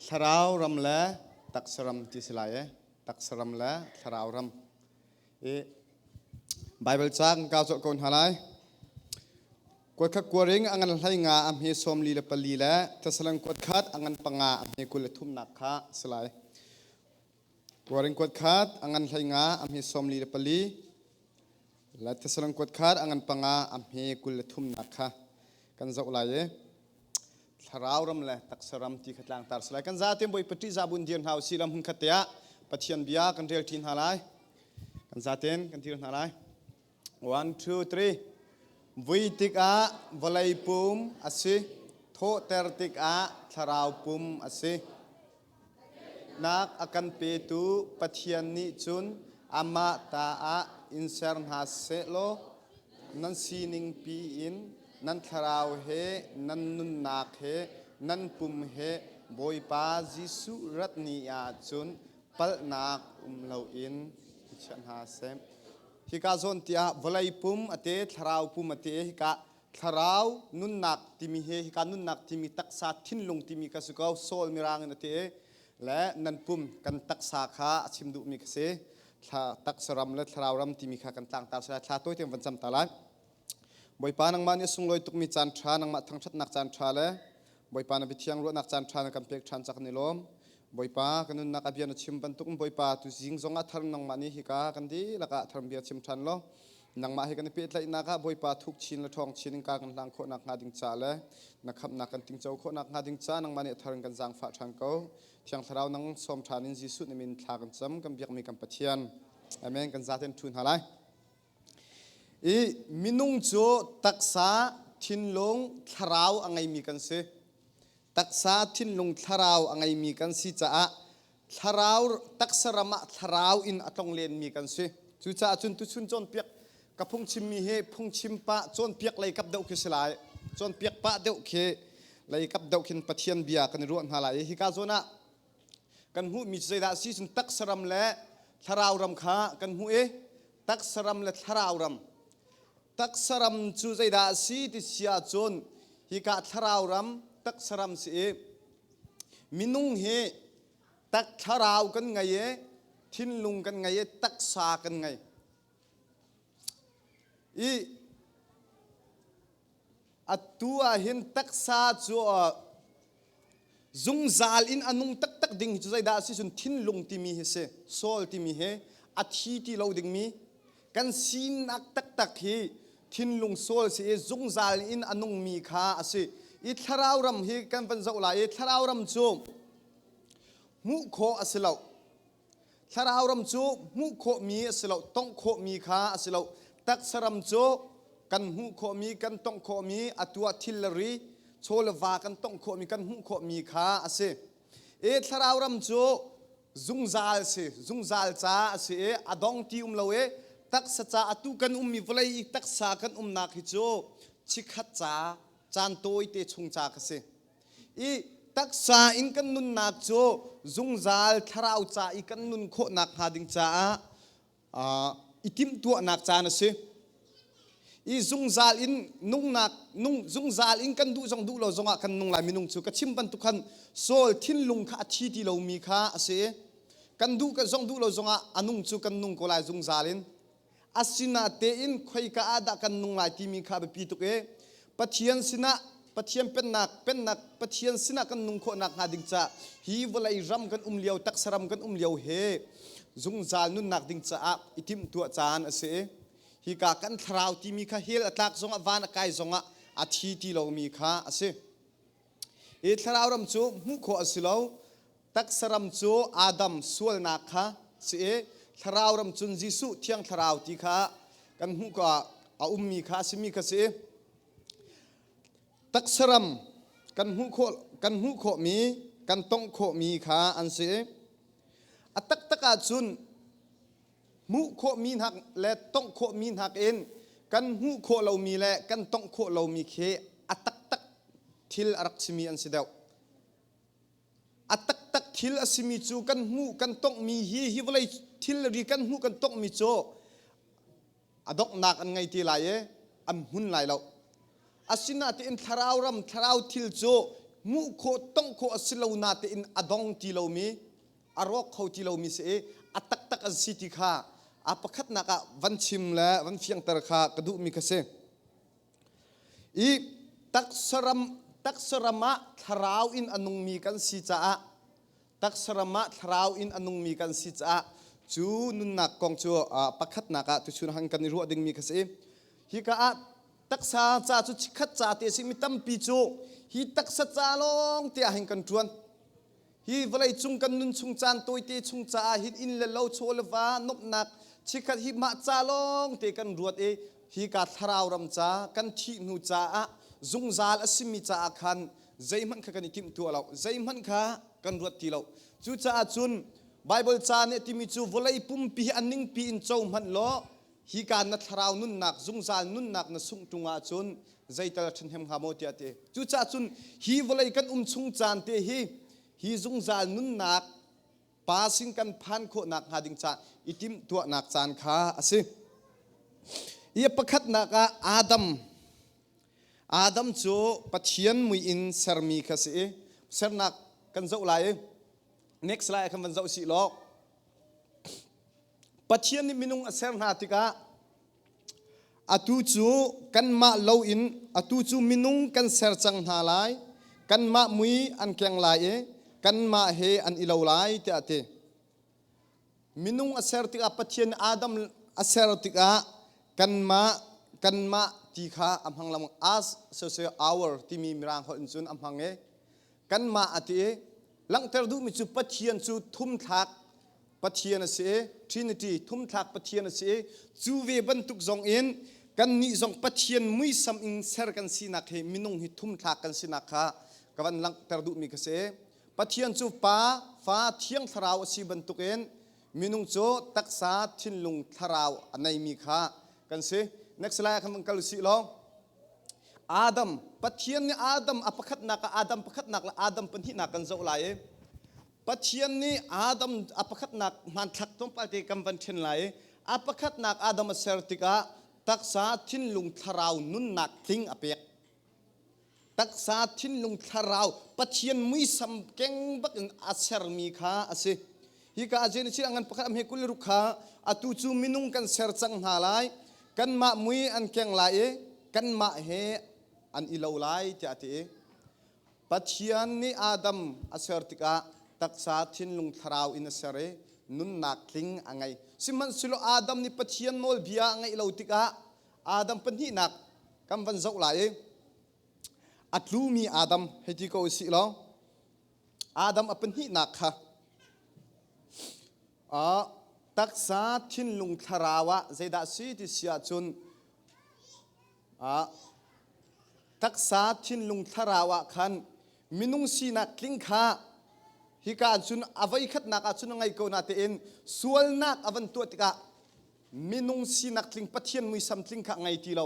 thlarau ram le taksa ram ti si lai e taksa ram le thlarau ram i bible cang ka zo ko hna lai kuat khat kuaring angan hlai nga a hme som li le pali le thasalang kuat khat angan panga a hme kul le thumnak kha si lai Kuaring kuat khat angan hleinga amhi sawmli le pali la Thessalon kuat khat angan panga amhi kul le thumnak kha kan zoh lai e thlarau ram le taksa ram ti kha tlang tar salai kan za tem boi pati za bun dir hna si lam hun khat te ah pathian bia kan rel ṭin hna lai kan za ten kan dir hna lai One, two, three. Vui tikah vawlei pum a si. Thawhter tikah thlarau pum a si. Nak a kan petu Pathian nih cun amah ta ah in ser hna sehlaw nan siningpi in nan thlarau he nan nunnak he nan pum he Bawipa Jesuh rat ni ah cun palhnak um loin i chiah hna seh. Hika zawn ti ah vawlei pum ate, thlarau pum ate hika thlarau nunnak timi he hika nunnak timi taksa thinlung timi ka si ko soul mirang in ate le nan pum kan taksa kha a chim duhmi ka si thla taksa ram le thlarau ram timi kha kan tlangtar sai thla toiten van cam ta lai Bawipa nangmah nih a sunglawi tukmi caan ṭha nangmah thangṭhatnak caan ṭha le Bawipa na bithiang ruahnak caan ṭha na kan pek ṭhan cak kan i lawm. Bawipa ka nunnak a bia na chim bantuk in Bawipa tu zing zong ah thar nangmah nih hika kan dihlak ah thar bia chim ṭhan law nangmah he kan i pehtlaihnak ah Bawipa thuk chin le ṭhawng chin in ka kan hlang khawhnak hnga ding ca le na khamhnak kan tingco khawhnak hnga ding ca nangmah nih a thar in kan zaangfah ṭhan ko. Thiang Thlarau nang sawm ṭhan in Jesuh nim in thla kan cam kan biakmi kan Pathian. Amen kan zaten ṭhu hna lai. I minung cu taksa, thinlung, thlarau a ngeimi kan si. Taksa, thinlung, thlarau a ngeimi kan si caah thlarau taksa ram ah thlarau in a tlonglenmi kan si. Cucaah cun tuchun cawnpiak ka phungchimmi hi phungchim pah cawnpiak lei kap deuh khi si lai. Cawnpiak pah deuh khi lei kap deuh khin Pathian bia kan i ruah hna lai i hika zawn ah kan hmuhmi cu zeidah a si cun taksa ram le thlarau ram kha kan hmuh i taksa ram le thlarau ram taksa ram cu zeidah a si ti si ahcun hika thlarau ram taksa ram si i minung hi tak thlarau kan ngei i thinlung kan ngei i taksa kan ngei I atu ah hin taksa cu zungzal in a nung taktak ding hi cu zeidah a si cun thinlung timi hi si soul timi hi a thi ti lo dingmi kan sinak taktak hi thinlung soul si i zungzal in a nungmi kha a si i thlarau ram hi kan van zoh lai i thlarau ram cu hmuh khawh a si lo Thlarau ram cu hmuh khawhmi a si lo, tongh khawhmi kha a si lo. Taksa ram cu kan hmuh khawhmi, kan tongh khawhmi, atu ah thilari, chawleva kan tongh khawhmi, kan hmuh khawhmi kha a si. I thlarau ram cu zungzal si, zungzal ca a si i a dong ti um lo i taksa ca atu kan ummi vawlei i taksa kan umnak hi cu chikhat ca, caan tawi te chung ca ka si. i taksa in kan nunnak cu zungzal thlarau ca i kan nun khawhnak hnga ding caah i timhtuahnak caan a si i zungzal in nungnak nung zungzal in kan duh zong duh lo zongah kan nung lai minung cu ka chim bantuk khan saul thinlung kha a thi ti lomi kha a si kan duh kan zong duh lo zongah a nung cu kan nung ko lai zungzal in Asinatein khoika ah dah kan nung lai timi kha biapi tuk i Pathian sinah Pathian pennak pennak Pathian sinah kan nung khawh nakhnga ding ca hi vawlei ram kan um lio taksa ram kan um lio he zungzal nunnak ding caah i timhtuah caan a si i hika kan thlarau timi kha hell a tlak zongah van a kai zongah a thi ti lomi kha a si. Hi thlarau ram cu hmuh khawh a si lo. Taksa ram cu Adam sualnak kha si i thlarau ram cun Jesuh thiang thlarau ti kha kan hmuh kha a ummi kha a simi kha si. Taksa ram kan hmuh khawh kan hmuh khawhmi kan tongh khawhmi kha an si. A taktak ahcun hmuh khawhmi hnak le tongh khawhmi hnak in kan hmuh khawh lomi le kan tongh khawh lomi khi a taktak thil a rak simi an si deuh a taktak thil a simi cu kan hmuh kan tonghmi hi hi vawlei thilri kan hmuh kan tonghmi cu a donghnak an ngei ti lai i an hmun lai lo asinain thlarau ram thlarau thil cu hmuh khawh tongh khawh a si lo natein a dong ti lomi a rawk kho ti lomi si i a taktak an si ti kha a pakhatnak ah van chim le van fiangter kha ka duhmi kha si i taksaram taksaram ah thlarau in a nungmi kan si caah taksaram ah thlarau in a nungmi kan si caah cu nunnak kong cu pakhatnak ah tuchun hang kan i ruah dingmi kha si hi ka ah taksa ca cu chikhat ca te si mi tampi cu hi taksa ca lawng tiah hin kan ṭuan Hi vawleicung kan nunchung caan tawite chung caah hin inn le lo, chaw le va, nuamhnak chikkhat hi mah ca lawngte kan ruat i hika thlarau ram ca, kan thih hnu caah zungzal a simi caah khan zeihmanh kha kan i timhtuah lo, zeihmanh kha kan ruat ti lo. Cucaah cun Baibal ca nih a timi cu vawlei pumpi hi a ningpi in co hmanh law Hika na thlarau nunnak, zungzal nunnak na sungh ṭung ahcun zeital a ṭhahnem hnga maw tiah a ti. Cucaah cun hi vawlei kan um chung caan te hi hi zungzal nunnak pa sin kan phan khawhnak hnga ding ca i timhtuahnak caan kha a si. Ia pakhatnak ah Adam. Adam cu Pathian mui in sermi kha si i sernak kan zoh lai i next lai ah khan van zoh si law Pathian nih minung a ser hna tikah atu cu kanmah lo in atu cu minung kan ser cang hna lai. Kanmah mui an keng lai i kanmah he an i lo lai tiah a ti. Minung a ser tikah Pathian nih Adam a ser tikah kanmah kanmah ti kha a hmang lengmang as so so our timi mirang holh in cun a hmang i kanmah a ti langhter duhmi cu Pathian cu thumthlak Pathian a si i Trinity thumthlak Pathian a si i cu ve bantuk zong in kannih zong Pathian muisam in ser kan sinak hi minung hi thumthlak kan sinak kha ka van langhter duhmi ka si Pathian cu pa fa thiang thlarau a si bantuk in minung cu taksa thinlung thlarau a neimi kha kan si next lai ah khan van kal sih law Adam, Pathian nih Adam a pakhatnak ah Adam pakhatnak le Adam pahnihnak kan zoh lai i Pathian nih Adam a pakhatnak hmanthlak tlawmpalte kan van ṭhen lai i a pakhatnak Adam a ser tikah taksa, thinlung, thlarau, nunnak tling a pek. Taksa, thinlung, thlarau, Pathian muisam keng bak in a sermi kha a si. Hika ah cun an pakhat hme kul ruk kha atu cu minung kan ser cang hna lai kanmah mui an keng lai i kanmah he an i lo lai tiah a ti i Pathian nih Adam a ser tikah taksa thinlung thlarau in a ser i nunnak tling a ngei sihmanhsehlaw Adam nih Pathian nawlbia a ngeih lo tikah Adam pahnihnak kan van zoh lai i a tlumi Adam hei ti ko si law Adam a pahnihnak kha uh, taksa thinlung thlarau ah zeidah si ti si ahcun uh, taksa thinlung thlarau ah khan minung sinak tling kha hika cun avei khatnak ah cun a ngei ko na tein sualnak a van tuah tikah minung sinak tling pathian muisam tling kha a ngei ti lo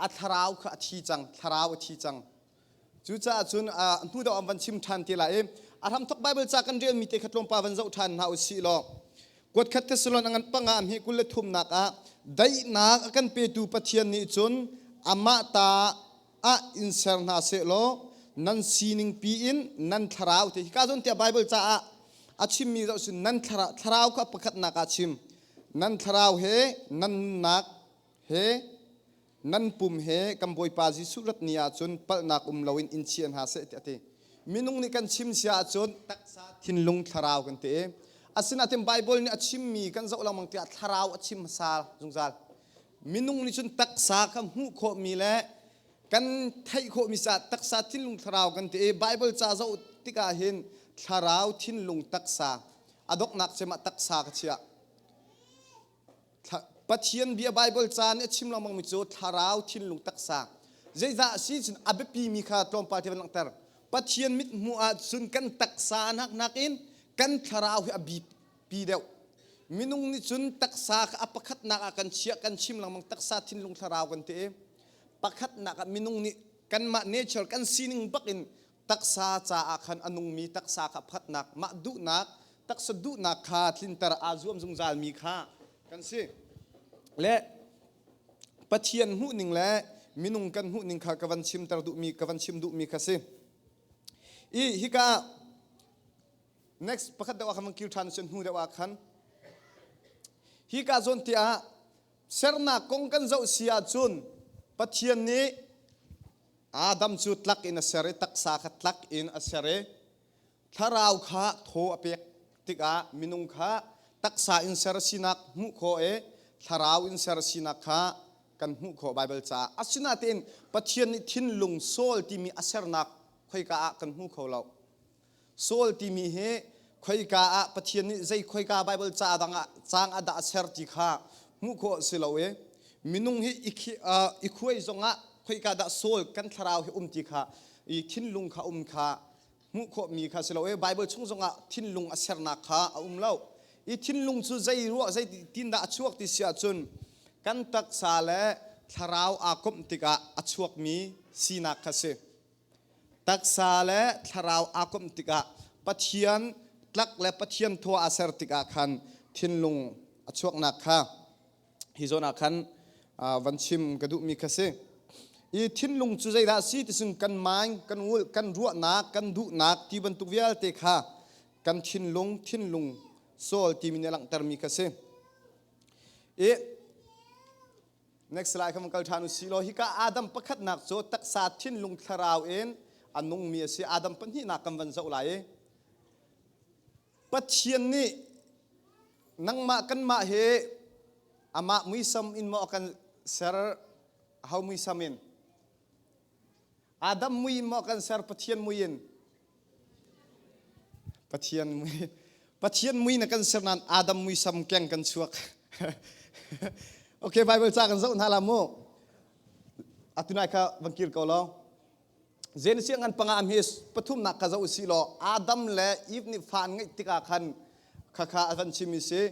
a thlarau kha a thi cang thlarau a thi cang Cucaah cun a hnu deuh an van chim ṭhan te lai i a hramthok Baibal ca kan relmi te kha tlawmpal van zoh ṭhan hna u sih law kuat khat Thessalon a ngan pangah hme kul le thumnak ah daihnak a kan petu Pathian nih cun amah ta ah in ser hna seh law nan sining piin nan thlarau te hi ka zawn tiah Baibal caah a chimmi zoh sin nan thlarau thlarau kha pakhatnak ah chim nan thlarau he nan nunnak he ngan pum he kan Bawipa Jesuh rat ni ahcun palhnak um loin in chia hna seh tiah a ti. Minung nih kan chim sia ahcun taksa thinlung thlarau kan ti i asinain Baibal nih a chimmi kan zoh lengmang tiah thlarau a chim hmasa zungzal. Minung nih cun taksa kha hmuh khawhmi le kan theih khawhmi caah taksa thinlung thlarau kan ti i Baibal ca zoh tikah hin thlarau thinlung taksa a donghnak cem ah taksa ka chiah. Pathian bia Bible caan nih a chim lengmangmi cu thlarau thinlung taksa zeicah a si cun a biapimi kha tlawmpal te van langhter Pathian mit hmuh ahcun kan taksa nak nakin kan thlarau hi a bipi deuh minung nih cun taksa kha a pakhatnak ah kan chiah kan chim lengmang taksa thinlung thlarau kan ti i pakhatnak ah minung nih kanmah nature kan sining bakin taksa caah khan a nungmi taksa kha phatnak, mah duhnak, taksa duhnak kha tlinter aa zuam zungzalmi kha kan si. Le Pathian hmuhning le minung kan hmuhning kha ka van chimter duhmi, ka van chim duhmi kha si. I hika next pakhat deuh ah khan van kil ṭhan sen hnu deuh ah khan hika zawn te ah sernak kong kan zoh si ahcun Pathian nih Adam cu tlak in a ser i taksa kha tlak in a ser i thlarau kha thaw a pek tikah minung kha taksa in ser a sinak hmuh khawh i thlarau in ser a sinak kha kan hmuh khawh Baibal caah asinain Pathian nih thinlung soul timi a sernak khoika ah kan hmu kho lo. Saul timi hi khoika ah Pathian nih zei khoika Baibal ca dang ah caang a dah a ser ti kha hmuh khawh si lo i minung hi i khuai zong ah khoika dah Saul kan thlarau hi um ti kha i thinlung kha um kha hmuh khawhmi kha si lo i Baibal chung zong ah thinlung a sernak kha a um lo i thinlung cu zei ruah zei tindah a chuak ti si ahcun kan taksa le thlarau aa komh tikah a chuakmi sinak kha si. taksa le thlarau aa komh tikah Pathian tlak le Pathian thua a ser tikah khan thinlung a chuaknak kha hi zawn ah khan van chim ka duhmi kha si i thinlung cu zeidah a si tisung kan mind kan ulh kan ruahnak kan duhnak ti bantuk vialte kha kan thinlung thinlung soul timi nih a langhtermi kha si i Next slide kha kal ṭhan u silaw hika Adam pakhatnak cu taksa thinlung thlarau in a nungmi a si Adam pahnihnak kan van zoh lai i Pathian nih nangmah kanmah hi amah muisam in maw a kan ser hau muisam in Adam mui in maw kan ser Pathian mui in Pathian mui Pathian mui na kan ser nan Adam mui sam keng kan chuak Okay Bible ca kan zoh hna la mu atunai kha van kir ko lo Genesis ngan panga am hi pathum nak ka zoh si lo Adam le Eve nih fan ngeih tikah khan khakha avan chim si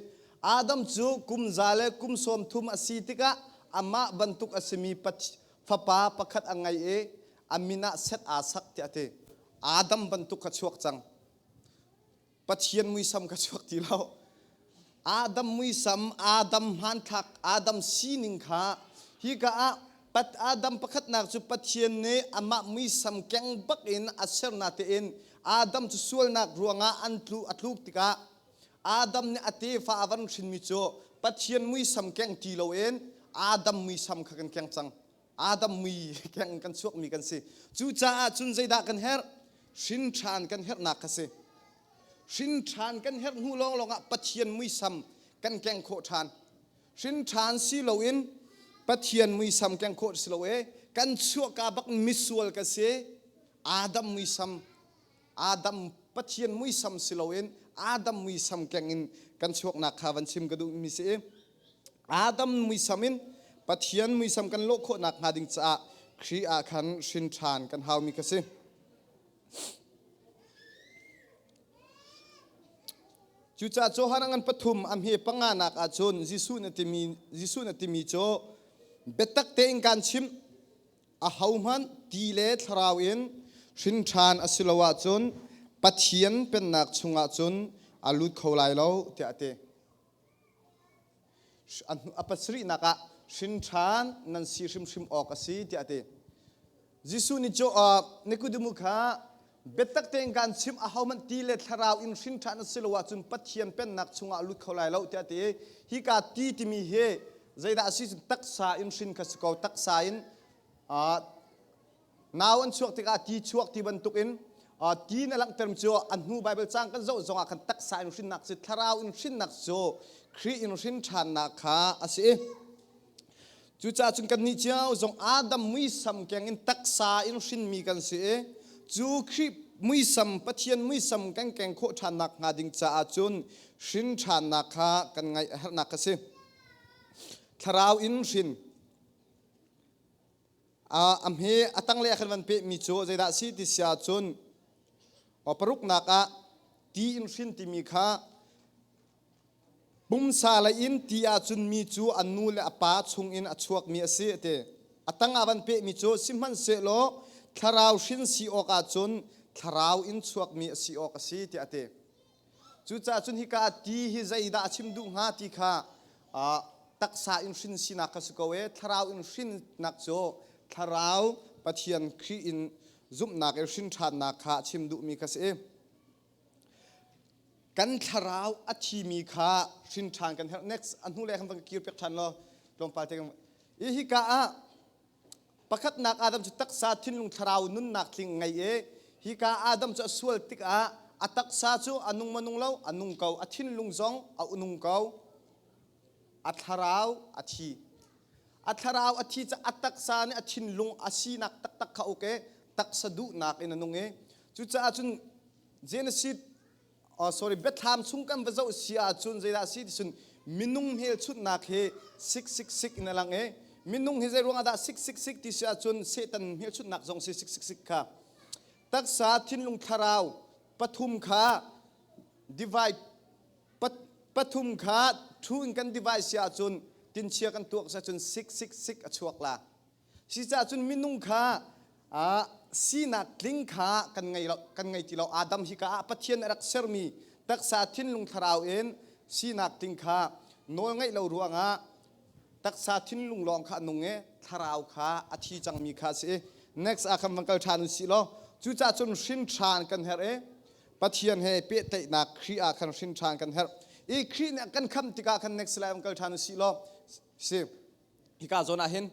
Adam cu kum za le kum sawm thum a si tikah amah bantuk a simi Fapa pakhat a ngei i a min ah Seth aa sak tiah a ti. Adam bantuk kha chuak cang. Pathian muisam kha chuak ti lo. Adam muisam, Adam hmanthlak, Adam sining kha hika ah pat Adam pakhatnak cu Pathian nih amah muisam keng bak in a sernak tein Adam cu sualnak ruangah an tlu a tluk tikah Adam nih a tefa a van hrinmi cu Pathian muisam keng ti loin Adam muisam kha kan keng cang. Adam mui keng kan chuakmi kan si. Cucaah cun zeidah kan herh? Hrinṭhan kan herhnak kha si. Hrinṭhan kan herh hnu lawnglawng ah Pathian muisam kan keng khawh ṭhan. Hrinṭhan si loin Pathian muisam keng khawh si lo e, kan chuahka bak misual ka si. Adam muisam Adam Pathian muisam si loin Adam muisam kengin kan chuaknak kha van chim ka duhmi si i Adam muisam in Pathian muisam kan lawh khawh nakhnga ding caah Khrih ah khan hrin ṭhan kan haumi ka si. Cucaah Johan angan pathum a hme panga nak ah cun Jesuh na timi Jesuh na timi cu biatak tein kan chim ahohmanh ti le thlarau in hrinṭhan a si lo ahcun Pathian pennak chungah cun a lut kho lai lo tiah a ti. A pasarihnak ah hrinṭhan nan si hrimhrim awk a si tiah a ti. Jesuh nih Nikodemu kha biatak tein kan chim a hohmanh ti le thlarau in hrin ṭhan a si lo ahcun Pathian pennak chungah lut kho lai lo tiah ti hi ka ti timi hi zeidah a si cun taksa in hrin kha si ko taksa in nau an chuak tikah ti chuak ti bantukin ti na langhter cu a hnu Baibal cang kan zoh zongah khan taksa in hrinnak si thlarau in hrinnak cu Khrih in hrin ṭhannak kha a si Cucahcun kannih cio zong Adam muisam keng in taksa in hrinmi kan si i cu Khrih muisam Pathian muisam kan keng khawh ṭhannak hnga ding caah cun hrin ṭhannak kha kan ngaih a herhnak a si. Thlarau in hrin uh, a hme a tanglei ah khan van pehmi cu zeidah si ti sia cun paruknak ah ti in hrin timi kha Pumsa lei in ti ahcun mi cu an nu le a pa chungin a chuakmi a si a ti. A tangah van pehmi cu sihmanhsehlaw thlarau hrin si awk ahcun thlarau in chuakmi a si awk a si tiah a ti. Cucaah cun hika ti hi zeidah a chim duh hnga ti kha ah taksa in hrin sinak kha si ko e thlarau in hrinnak cu thlarau Pathian Khrih in zumhnak i hrin ṭhannak kha a chim duhmi kha si. kan thlarau a thimi kha hrin ṭhan kan herh next a hnu lei khan van kir piak ṭhan law tlawmpal te kan i hika ah pakhatnak Adam cu taksa thinlung thlarau nunnak tling ngei i hika Adam cu a sual tikah a taksa cu a nung manung lo a nung ko a thinlung zong a nung ko a thlarau a thi a thlarau a thi cu a taksa nih a thinlung a sinak taktak kha uk i taksa duhnak in a nung i cucaah cun Genesis oh, sorry biathlam chung kan va zoh si ahcun zeidah a si ti cun minung hmelchunhnak hi sik sik sik in a lang i minung hi zei ruangah dah sik sik sik ti si ahcun Satan hmelchunhnak zong si sik sik sik kha taksa thinlung thlarau pathum kha divide pathum kha ṭhu in kan device si ahcun tinchia kan tuak si ahcun sik sik sik a chuak la si cahcun minung kha sinak tling kha kan ngei lo kan ngei ti lo adam hi ka ah pathian a rak sermi taksa thinlung thlarau in sinak tling kha nawl ngaih lo ruangah taksa thinlung lawng kha a nung e thlarau kha a thi cangmi kha si next ah khan van kal ṭhan u si law cucahcun hrinṭhan kan herh e Pathian he pehtlaihnak Khrih ah khan hrin ṭhan kan herh i Khrih nih a kan khamh tikah khan next lai um kal ṭhan u si law si hika zawn ah hin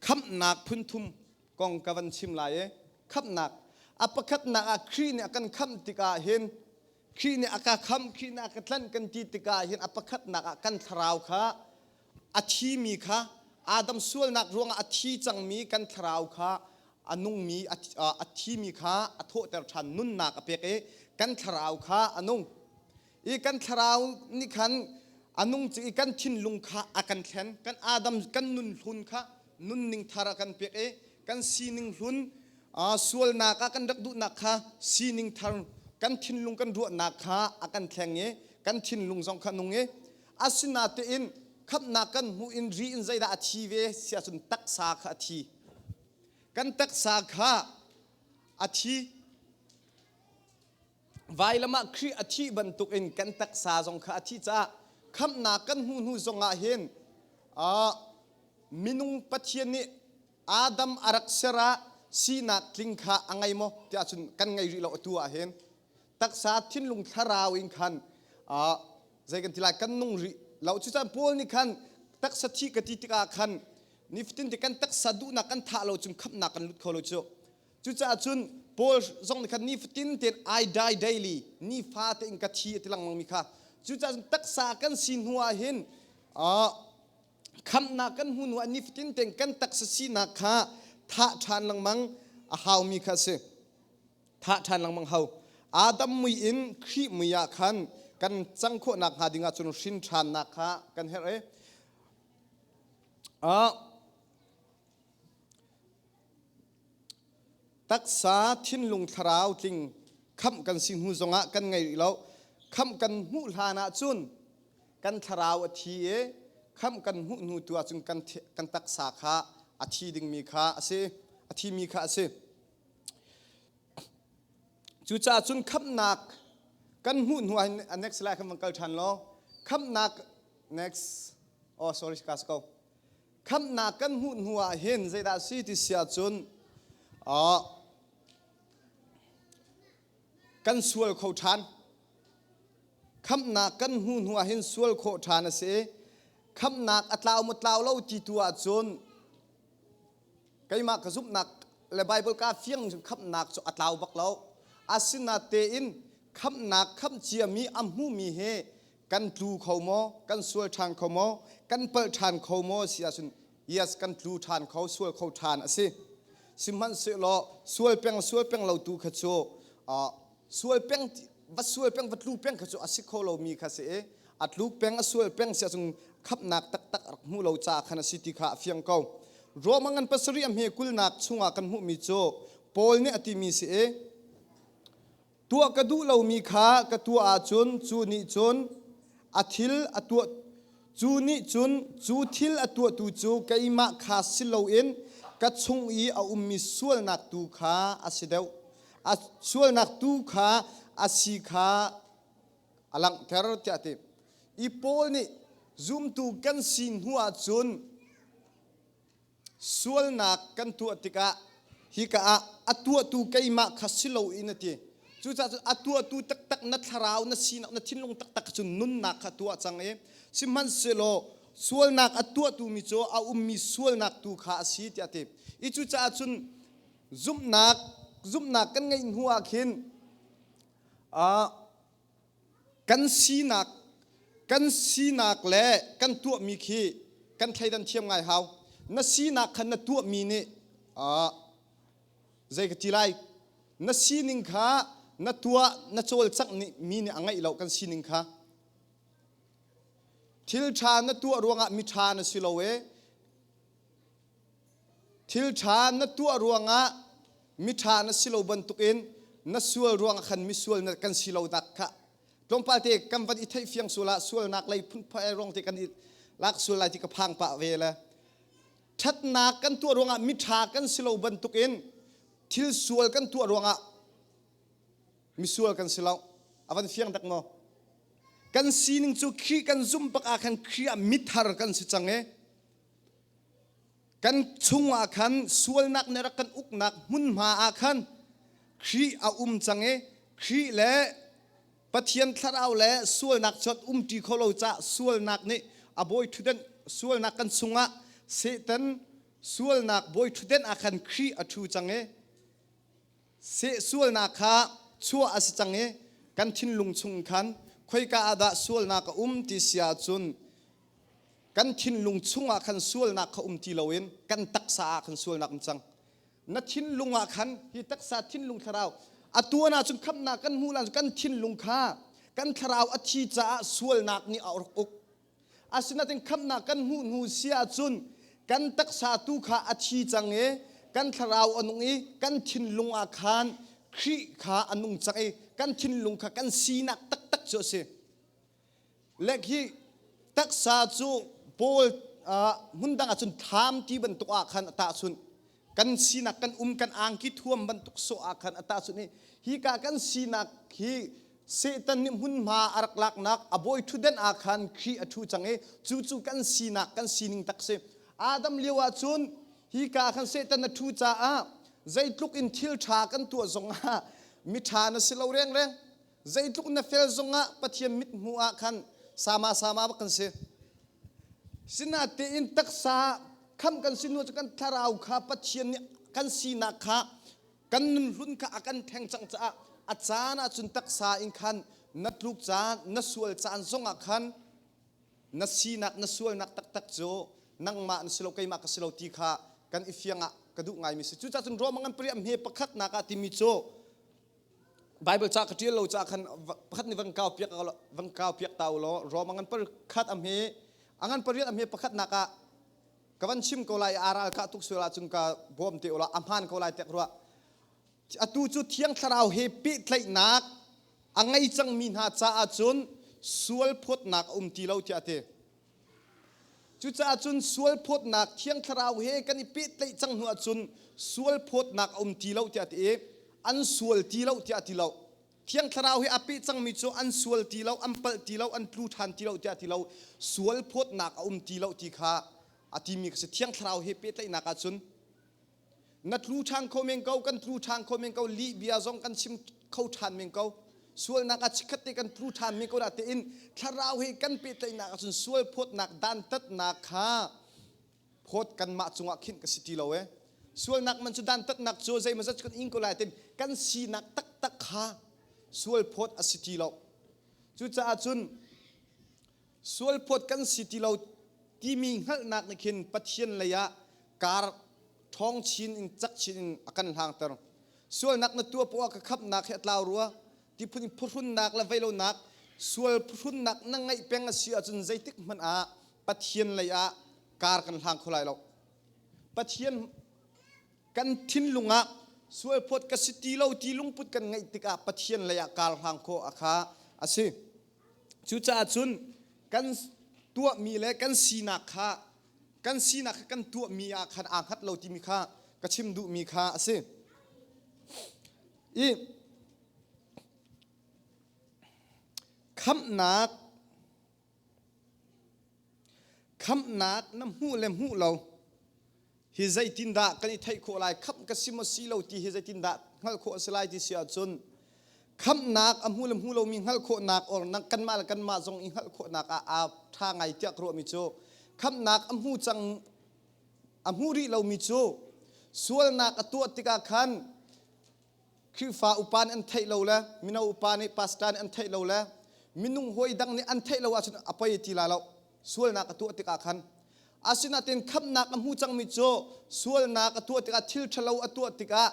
khamhnak phunthum kong ka van chim lai i khamhnak a pakhatnak ah Khrih nih a kan khamh tikah hin Khrih nih a ka khamh Khrih nih a ka tlanh kan ti tikah hin a pakhatnak ah kan thlarau kha a thimi kha Adam sualnak ruangah a thi cangmi kan thlarau kha a nungmi a thimi kha a thawhter ṭhan nunnak a pek i kan thlarau kha a nung i kan thlarau nih khan a nung i kan thinlung kha a kan thlen kan Adam kan nun hlun kha nunning thar a kan pek i kan sining hlun sualnak a kan rak duhnak kha sining thar kan thinlung kan ruahnak kha a kan thleng i kan thinlung zong kha nung i Asinatein khamhnak kan hmuh in ri in zeidah a thi ve si ahcun taksa kha a thi. Kan taksa kha a thi. Vailam ah Khrih a thih bantukin kan taksa zong kha a thi caah khamhnak kan hmuh hnu zongah hin minung Pathian nih Adam a rak ser ah sinak tling kha a ngei maw? tiah cun kan ngei rih lo atu ah hin taksa thinlung thlarau in khan uh, zei kan ti lai kan nung rih lo cucan paul nih khan taksa thi ka ti tikah khan nifatin ti kan taksa duhnak kan thah lo cung khapnak kan lut kho lo cu cucaah cun paul zong nih khan nifatin ten i die daily nifa te in ka thi ti langmang mi kha cucaah cun taksa kan si hnuah hin uh, khamnak kan hmu hnuah nifatin ten kan taksa sinak kha thah ṭhan langmang a haumi kha a si thah ṭhan lengmang hau. Adam mui in Khrih mui ah khan kan cang khawh nakhnga dingah cun hrin ṭhannak kha kan herh i uh, taksa thinlung thlarau tling khamh kan si hnu zongah kan ngei rih lo khamh kan hmuh hlan ah cun kan thlarau a thi i khamh kan hmuh hnu tu ah cun kan, kan taksa kha a thi dingmi kha a si a thimi kha a si Cucaah cun khamhnak kan hmuh hnu ah next slide kan van kal ṭhan law khamhnak next oh sorry ka si ko khamhnak kan hmuh hnu ah hin zeidah a si ti si ahcun ah kan sual kho ṭhan khamhnak kan hmuh hnu ah hin sual khawh ṭhan a si i khamhnak a tlau maw tlau lo ti tu ahcun keimah ka zumhnak le Baibal ka fiang cu khamhnak cu a tlau bak lo asinatein khamhnak khamhciami a hmumi he kan tlu kho maw kan sual ṭhan kho maw kan palh ṭhan kho maw si ahcun yes kan tlu ṭhan kho sual kho ṭhan a si sihmanhsehlaw sual peng sual peng lo tu kha cu sual peng va sual peng va tlu peng kha cu a si kho lomi kha si i a tlu peng a sual peng si ahcun khamnak taktak rak hmuh lo caah khan a si ti kha a fiang ko Roma ngan pasarih a hme kulnak chungah kan hmuhmi cu Paul nih a timi si i tuah ka duh lomi kha ka tuah ahcun cu nih cun a thil a tuah Cu nih cun cu thil a tuahtu cu keimah kha si loin ka chung i a ummi sualnak tu kha a si deuh, a sualnak tu kha a si kha a langhter tiah a ti. I Paul nih zumtu kan si hnu ah cun sualnak kan tuah tikah hika ah a tuahtu keimah kha si lo in a ti cucaah a tuahtu taktak na thlarau na sinak na thinlung taktak cu nunnak kha tuah cang i sihmanhsehlaw sualnak a tuahtumi cu a ummi sualnak tu kha a si tiah a ti i cucaah cun zumhnak zumhnak kan ngeih hnu ah khin kan sinak kan sinak le kan tuahmi khi kan thleidan thiam ngai hau na sinak khan na tuahmi nih ah zei ka ti lai na sining kha na tuah na cawlcangh nih mi nih a ngaih lo kan sining kha thil ṭha na tuah ruangah mi ṭha na si lo e Thil ṭha na tuah ruangah miṭha na si lo bantukin na sual ruangah khan misual na kan si lo dak kha tlawmpal te kan van i theih fiang sual ah sualnak lei phunphai rong te kan i lak sual lai ti ka phang pah ve le ṭhatnak kan tuah ruangah miṭha kan si lo bantukin thil sual kan tuah ruangah misual kan si lo a van fiang dak maw kan sining cu khi kan zumh bak ah khan khi ah mithar kan si cang e kan chungah khan sualnak nih rak kan uknak hmunhma ah khan Khrih a um cang i Khrih le Pathian thlarau le sualnak cu umṭi kho lo caah sualnak nih a bawi ṭhutdenh sualnak kan chungah Satan sualnak bawi ṭhutdenh ah khan Khrih a ṭhu cang i Sehsualnak kha chuah a si cang i kan thinlung chung khan khoika ah dah sualnak a um ti si ahcun kan thinlung chungah khan sualnak kha um ti loin kan taksa ah khan sualnak um cang. Na thinlung ah khan hi taksa thinlung thlarau a tuan ahcun khamhnak kan hmuh ahcun kan thinlung kha kan thlarau a thi caah sualnak nih a rak uk. Asinain khamhnak kan hmuh hnu si ahcun kan taksa tu kha a thi cang i kan thlarau a nung i kan thinlung ah khan Khrih kha a nung cang i kan thinlung kha kan sinak taktak cu a si. Lek hi taksa cu Paul hmun dang ahcun thlam ti bantuk ah khan a tahchunh. kan sinak kan um kan angki thuam bantuk sawh ah khan ata sun i hika kan sinak hi Satan nih hmunhma a rak laknak a bawi ṭhutdenh ah khan Khrih a ṭhu cang i cu cu kan sinak kan sining tak si Adam lio ah cun hika khan Satan a ṭhu caah zeitluk in thil ṭha kan tuah zong ah miṭha na si lo rengreng Zeitluk na fel zongah Pathian mithmuh ah khan sama sama bak kan si. Sinatein taksa kham kan si nu cu kan thlarau kha Pathian nih kan sinak kha kan nunhlun kha a kan theng cang caah a caan ah cun taksa in khan na tluk caan na sual caan zongah khan na sinak na sualnak taktak cu nangmah na si lo keimah ka si lo ti kha kan i fiang ah ka duh ngaimi si cucahcun ruamang an pariah hme pakhatnak ah timi cu Bible ca ka ṭial lo ca khan pakhat nih van kau piak van kau piak ta u law Rom a ngan par khat am hi a ngan pariat am hi pakhatnak ah ka van chim ko lai aral ka tuk sual ahcun ka bawm te u la a hmaan ko lai tek rua atu cu thiang thlarau he pehtlaihnak a ngei cangmi hna caah cun sual phawtnak a um ti lo tiah a ti Cucaah cun sualphawtnak thiang thlarau he kan i pehtlaih cang hnu ahcun sualphawtnak a um ti lo tiah ti i an sual ti lo tiah ti lo thiang thlarau he a peh cangmi cu an sual ti lo an palh ti lo an tlu ṭhan ti lo tiah ti lo sualphawtnak a um ti lo ti kha a timi ka si thiang thlarau he pehtlaihnak ahcun na tlu ṭhan kho men ko kan tlu ṭhan kho men ko lih bia zong kan chim kho ṭhan men ko sualnak a chikkhat te kan tlu ṭhan men ko na tein thlarau he kan pehtlaihnak ahcun sual phawtnak dantatnak kha phawt kanmah cungah khin ka si ti lo e sualnak man cu dantatnak cu zei mazat kan ing ko lai tin kan sinak taktak kha sual phawt a si ti lo cucaah cun sualphawt kan si ti lo timi hngalhnak nih khin Pathian lei ah kar ṭhawng chin in cak chin in a kan hlangter. Sualnak na tuah poah ka khamnak he a tlau rua. Tiphun in phuhrunnak le veilonak sual phuhrunnak na ngeih peng a si ahcun zeitik hmanh ah Pathian lei ah kar kan hlang kho lai lo. Pathian kan thinlung ah sualphawt ka si ti lo ti lungput kan ngeih tikah Pathian lei ah kar hlang khawh a kha a si. Cucaah cun kan tuahmi le kan sinak kha kan sinak kha kan tuahmi ah khan aa hngat lo timi kha ka chim duhmi kha a si. I khamhnak khamhnak na hmuh le hmuh lo hi zeitindah kan i theih khawh lai khamh ka si maw si lo ti hi zeitindah hngalh khawh a si lai ti si ahcun khamhnak a hmu le hmu lomi hngalh khawhnak or kanmah le kanmah zong i hngalh khawhnak ah aa ṭha ngai tiah ka ruahmi cu khamhnak a hmu cang a hmu rih lomi cu sualnak a tuah tikah khan Khrihfa upa nih an theih lo le mino upa nih pastor nih an theih lo le minung huai dang nih an theih lo ahcun a poi ti la lo sualnak a tuah tikah khan asinain khamhnak a hmu cangmi cu sualnak a tuah tikah thil ṭhalo a tuah tikah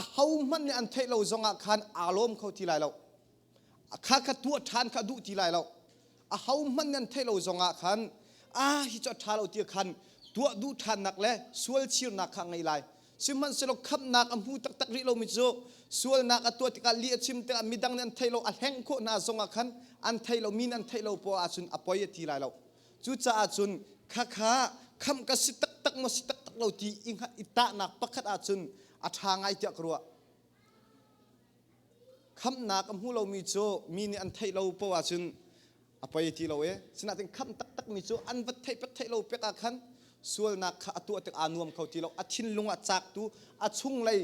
ahohmanh nih an theih lo zongah khan aa lawm kho ti lai lo. a kha kha tuah ṭhan kha duh ti lai lo a hohmanh nan theih lo zongah khan a hi cu a ṭha lo ti khan tuah duh ṭhannak le sual chirnak kha ngei lai sihmanhsehlaw khamhnak a hmu taktak rih lomi cu sualnak a tuah tikah li a chim tikah midang nih an theih lo a hlengh khawh hna zongah khan an theih lo mi nih an theih lo poah ahcun a poi a ti lai lo cucaah cun khakha khamh ka si taktak maw si taktak lo ti i hngalh i tahnak pakhat ahcun a ṭha ngai tiah ka ruah khamnak a hmu lomi cu mi nih an theih lo poh ahcun a poi ti lo i sinain kham taktakmi cu an va theih pat theih lo pek ah khan sualnak kha a tuah tik aa nuam kho ti lo a thinlung ah caktu a chunglei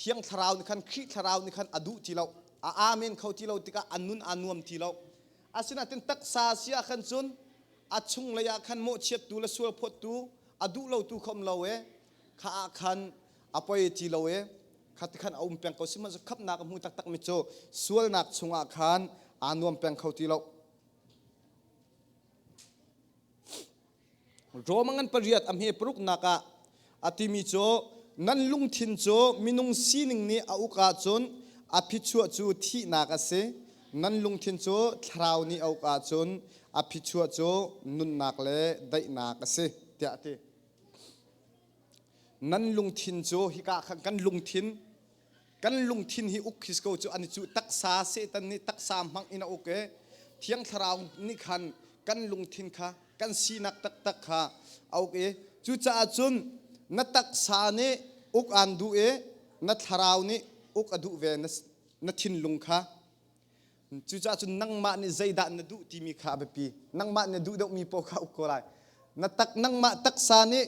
thiang thlarau nih khan Khrih thlarau nih khan a duh ti lo a amen kho ti lo tikah a nun aa nuam ti lo asinain taksa si ah khan cun a chunglei ah khan mawhchiattu le sualphawttu a duh lo tu kha um lo i kha ah khan a poi ti lo i kha ti khan a um peng ko sihmanhsehlaw khamnak a hmu taktak mi cu sualnak chungah khan aa nuam peng kho ti lo Rome ngan pariat a hme paruknak ah a timi cu nan lungthin cu minung sining nih a uk ahcun a phichuah cu thihnak a si nan lungthin cu thlarau nih a uk ahcun a phichuah cu nunnak le daihnak a si tiah a ti nan lungthin cu hika khan kan lungthin kan lungthin hi uk his ko cu ani cu taksa setan nih taksa hmang in a uk e thiang thlarau nih khan kan lungthin kha kan sinak taktak kha a uk i cucaah cun na taksa nih uk aan duh i na thlarau nih uk a duh ve na thinlung kha Cucaah cun nangmah nih zeidah na duh timi kha a biapi. Nangmah nih na duh deuhmi paoh kha uk ko lai. Na tak nangmah taksa nih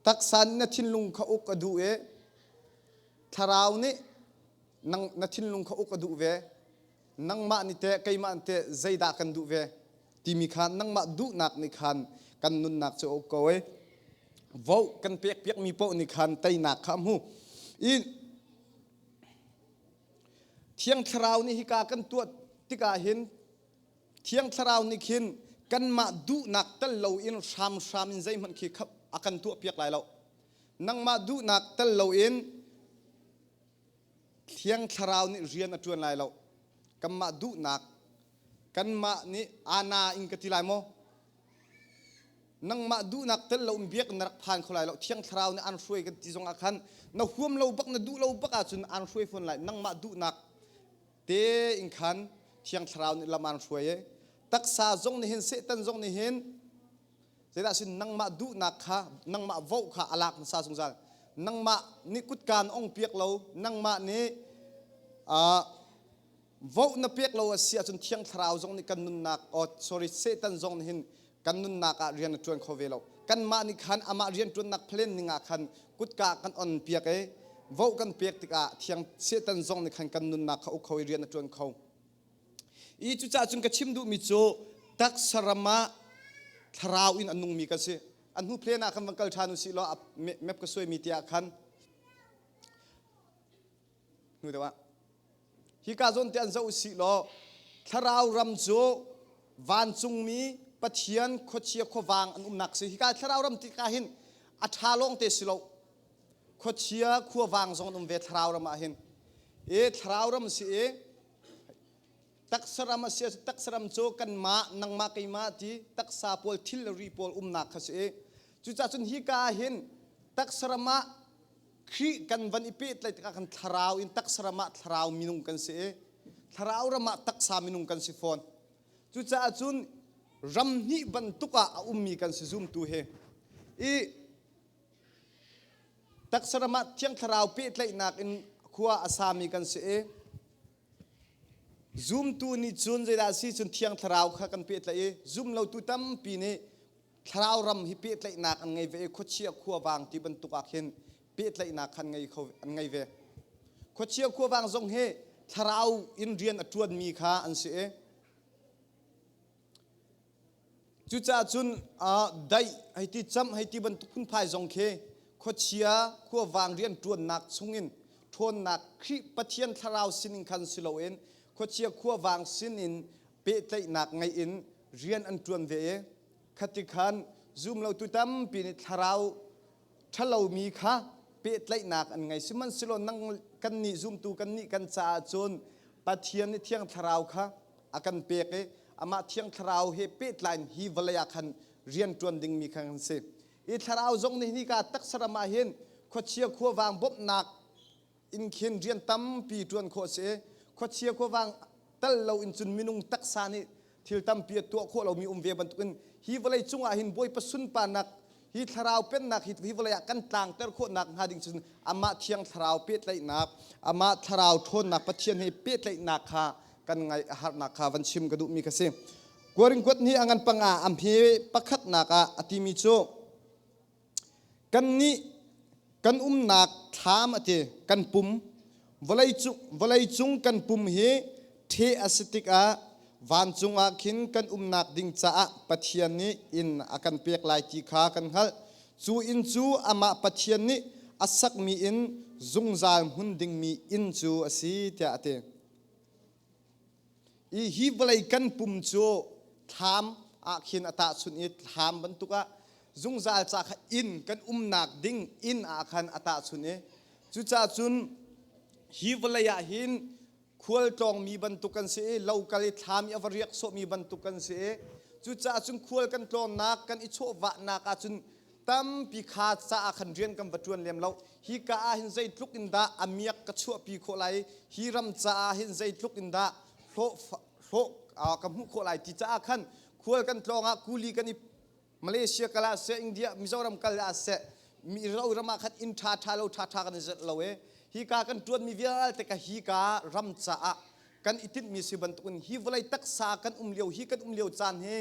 taksa nih na thinlung kha uk a duh i thlarau nih nang, na thinlung kha uk a duh ve. Nangmah nih teh keimah nih teh zeidah kan duh ve timi kha nangmah duhnak nih khan kan nunnak cu a uk ko i vote kan pek piakmi paoh nih khan teinak kha a hmu. I Thiang Thlarau nih hika kan tuah tikah hin Thiang Thlarau nih khin kanmah duhnak tel loin hramhram in zeihmanh khi a kan tuahpiak lai lo. Nangmah duhnak tel loin Thiang Thlarau nih rian a ṭuan lai lo. Kanmah duhnak kanmah nih ana in ka ti lai maw? nangmah duhnak tel lo in biak na rak phan kho lai lo thiang thlarau nih an hruai kan ti zong ah khan na huam lo bak na duh lo bak ah cun an hruai fawn lai nangmah duhnak te in khan thiang thlarau nih lam an hruai e taksa zong nih hin setan zong nih hin zeidah sin nangmah duhnak kha nangmah vo kha a lak nasa zungzal nangmah nih kutkan ong piak lo nangmah nih vote na pek lo a si ahcun thiang thlarau zong nih kan nunnak oh, sorry Satan zong nih hin kan nunnak ah rian a ṭuan kho ve lo kanmah nih khan amah rianṭuannak plan ning ah khan kutka kan on piak i vote kan pek tikah thiang Satan zong nih khan kan nunnak kha uk kho i rian a ṭuan kho i cucaah cun ka chim duhmi cu taksa ram ah thlarau in a nungmi ka si a hnu plan ah khan van kal ṭhan u si law map ka suaimi tiah khan hnu deuh ah hika zawn te an zoh usih law thlarau ram cu vancungmi pathian khuachia khuavang an umnak si hika thlarau ram tika hin a ṭha lawng te si lo khuachia khuavang zong an um ve thlarau ram ah hin e thlarau ram si e taksa ram a si taksa ram cu kanmah nangmah keimah ti taksa pawl thil le ri pawl umnak kha si e cucacun hika hin taksa ram ah Khrih kan van i pehtlaih tikah kan thlarau in taksa ram ah thlarau minung kan si i thlarau ram ah taksa minung kan si fawn. Cucaah cun ram hnih bantuk ah a ummi kan si zumtu he i taksa ram ah thiang thlarau pehtlaihnak in khua a sami kan si i zumtu nih cun zeidah a si cun thiang thlarau kha kan pehtlaih i zum lotu tampi nih thlarau ram hi pehtlaihnak an ngei ve i khuachia khuavang ti bantuk ah khin pehtlaihnak kha an ngei kho an ngei ve khuachia khuavang zong hi thlarau in rian a ṭuanmi kha an si i cucaah cun daih hei ti camh hei ti bantuk phunphai zong khi khuachia khuavang rian ṭuannak chungin ṭhawnnak Khrih Pathian thlarau sinin khan si loin khuachia khuavang sinin pehtlaihnak ngei in rian an ṭuan ve i khatikhan zumlotu tampi nih thlarau ṭhalomi kha pehtlaihnak an ngei sihmanhsehlaw nang kannih zumtu kannih kan caah cun Pathian nih thiang thlarau kha a kan pek i amah thiang thlarau he pehtlai hi vawlei ah khan rian ṭuan dingmi kha kan si. I thlarau zong nih nika taksaram ah hin khuachia khuavang bawmhnak inn khin rian tampi ṭuan khawh a si i khuachia khuavang tal loin cun minung taksa nih thil tampi a tuah khawh lomi um ve bantukin hi vawlei cungah hin Bawipa sunparnak hi thlarau pennak hi hi vawlei ah kan tlangter khawh nak hnga ding cun amah thiang thlarau pehtlaihnak amah thlarau ṭhawnnak Pathian he pehtlaihnak kha kan ngaih a harnak kha van chim ka duhmi kha si Korinth ni angan panga am hi pakhatnak ah a timi cu Kannih kan umnak thlam a ti kan pum vawleicung vawleicung kan pum hi ṭheh a si tikah vancung ah khin kan umnak ding caah Pathian nih inn a kan pek lai ti kha kan hngalh. Cu inn cu amah Pathian nih a sakmi inn zungzal hmun dingmi inn cu a si tiah a ti. I hi vawlei kan pum cu thlam ah khin a tahchunh i thlam bantuk ah zungzal ca kha inn kan umnak ding inn ah khan a tahchunh i cucaah cun hi vawlei ah hin khual tlawngmi bantuk kan si i lo kal i thlam i a va riak sawhmi bantuk kan si i cucaah cun khual kan tlawnnak kan i chawhvahnak ah cun tampi kha ca ah khan rian kan va ṭuan lem lo hi ka ah hin zeitluk in dah a miak ka chuahpi khawh lai hi ram caah hin zeitluk in dah hlawh hlawh ka hmuh khawh lai ti caah khan khual kan tlawng ah kuli kan i Malaysia kal ah seh India Mizoram kal ah seh mi ro ram ah khan inn ṭha ṭha lo ṭha ṭha kan i zet lo e hi ka kan ṭuanmi vialte ka hi ka ram caah kan i tinhmi si bantukin hi vawlei taksa kan um lio hi kan um lio caan hi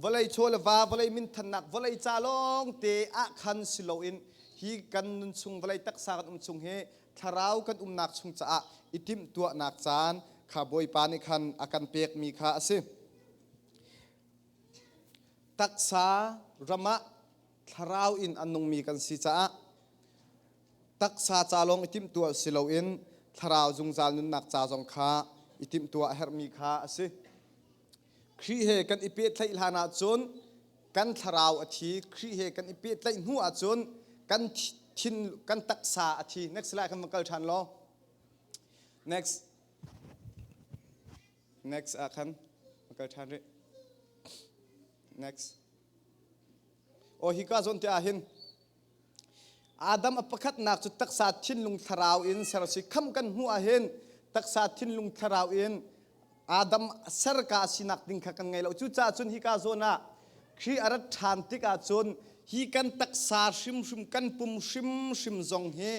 vawlei chaw le va vawlei minthannak vawlei ca lawng te ah khan si loin hi kan nun chung vawlei taksa kan um chung hi thlarau kan umnak chung caah i timh tuahnak caan kha bawipa nih khan a kan pekmi kha a si taksa ramah thlarau in an nungmi kan si caah taksa ca lawng i timhtuah si loin thlarau zungzal nunnak ca zong kha i timhtuah a herhmi kha a si. Khrih he kan i pehtlaih hlan ahcun kan thlarau a thi. Khrih he kan i pehtlaih hnu ahcun kan thin kan taksa a thi. Next slide kan va kal ṭhan law. Next. Next ah khan kal ṭhan rih. Next. Aw hi ka zawn te ah hin Adam a pakhatnak cu taksa thinlung thlarau in ser si kham kan hmuh ah hin taksa thinlung thlarau in Adam a ser ka sinak ding kha kan ngei lo cucaah cun hi ka zawn ah Khrih a rat ṭhan tikah cun hi kan taksa hrimhrim kan pum hrimhrim zong hi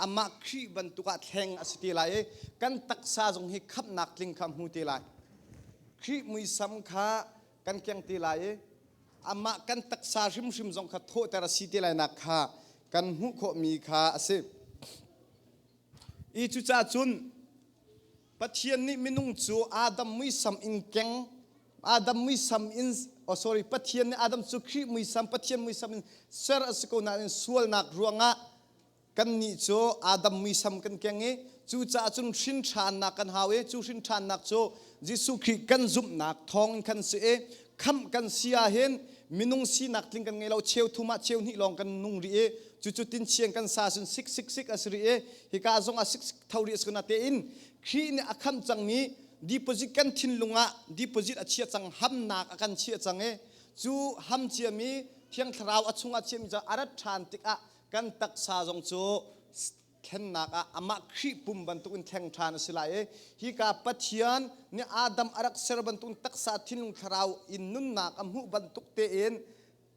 amah Khrih bantuk ah thleng a si te lai i kan taksa zong hi khamhnak tling kha hmu te lai. Khrih muisam kha kan keng te lai i amah kan taksa hrimhrim zong kha thawhter a si te lainak kha kan hmuh khawhmi kha a si. Hi cucah cun Pathian nih minung cu Adam muisam in keng Adam muisam in oh sorry Pathian nih Adam cu Khrih muisam Pathian muisam in ser a si ko nain sualnak ruangah kannih cu Adam muisam kan keng i cucaah cun hrinṭhannak kan hau i cu hrinṭhannak cu Jesuh Khrih kan zumhnak thawngin khan si i khamh kan si ahhin minung sinak tling kan ngei lo cheu thum ah cheu hnih lawng kan nung rih i Cucu tinchiang kan sa cun sik sik sik a si rih i hika zong ah sik sik tho rih a si ko natein Khrih nih a khamh cangmi deposit kan thinlung ah deposit a chia cang hamnak a kan chiah cang i cu ham ciami thiang thlarau a chung ah chiami cu a rat ṭhan tikah kan taksa zong cu thlennak ah amah Khrih pum bantukin thleng ṭhan a si lai i hika Pathian nih Adam a rak ser bantukin taksa thinlung thlarau in nunnak a hmuh bantuk tein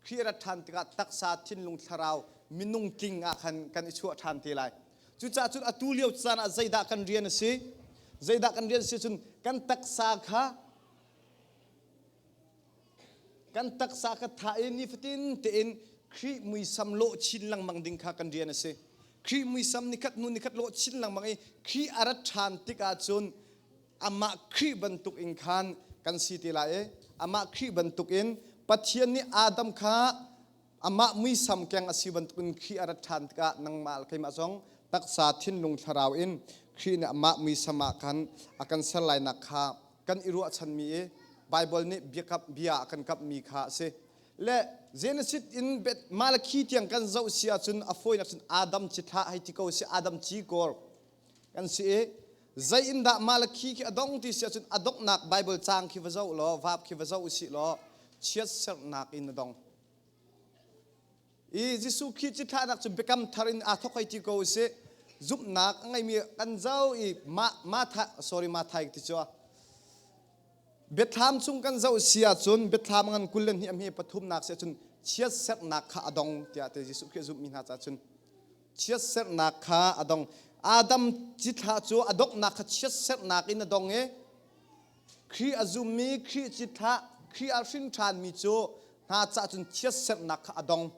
Khrih a rat ṭhan tikah taksa, thinlung, thlarau, minung tling ah khan kan i chuah ṭhan te lai. Cucaah cun atu lio caan ah zeidah kan rian a si? Zeidah kan rian a si cun kan taksa kha kan taksa kha thah i nifatin tein Khrih muisam lawh chin lengmang ding kha kan rian a si. Khrih muisam nikhat hnu nikhat lawh chin lengmang i Khrih a rat ṭhan tikah cun amah Khrih bantuk in khan kan si ti lai i amah Khrih bantuk in Pathian nih Adam kha amah muisam keng a si bantukin Khrih a rat ṭhan tikah nangmah le keimah zong taksa thinlung thlarau in Khrih nih amah muisam ah khan a kan ser lainak kha kan i ruahchanmi i Baibal nih biakam bia a kan kamhmi kha a si. Le Genesis in Malakhi tiang kan zoh si ahcun a fawinak cun Adam ci thlah hei ti ko si Adam ci kor kan si i zei in dah mah le khi khi a dong ti si ahcun a donghnak Bible caang khi va zoh law vaap khi va zoh u sih law chiat sernak in a dong i Jesuh Khrih cithlah cu biakam thar in aa thok hoi ti ko u sih zumhnak a ngeimi kan zo i ma ma tha sorry ma thai ti cu biathlam chung kan zoh si ahcun biathlam ngan kul le hnih a hme pathumnak si ahcun chiat sernak kha a dong tiah te Jesuh Khrih zumhmi hna cah cun chiatserhnak kha a dong. Adam cithlah cu a donghnak kha chiatserhnak in a dong i Khrih a zummi, Khrih cithlah, Khrih a hrin ṭhanmi cu hna cah cun chiatserhnak kha a dong.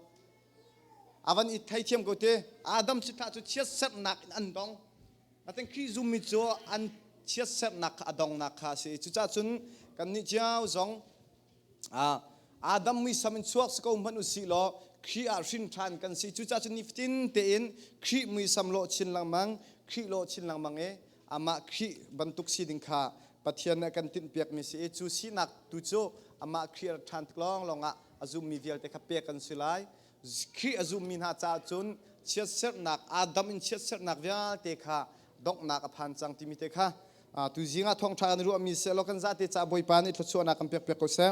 A van i theithiam ko te, Adam cithlah cu chiatserhnak in an dong. Natin Khrih zummi cu an chiatserhnak kha a dongnak kha a si. Cucahcun kannih cio zong Ah, Adam muisam in chuak si ko hmanh usih law Khrih ah hrin ṭhan kan si cucaah cu nifatin tein Khrih muisam lawh chin lengmang Khrih lawh chin lengmang i amah Khrih bantuk si ding kha Pathian nih kan tinhpiakmi si i cu sinak tu cu amah Khrih a ṭhan tik lawnglawng ah a zummi vialte kha pek kan si lai Khrih a zummi hna caah cun chiatserhnak Adam in chiatserhnak vialte kha donghnak a phan cang timi te kha tu zing ah thawngṭha an ruahmi sehlaw kan zate ca bawipa nih thluachuahnak kan pekpiak ko seh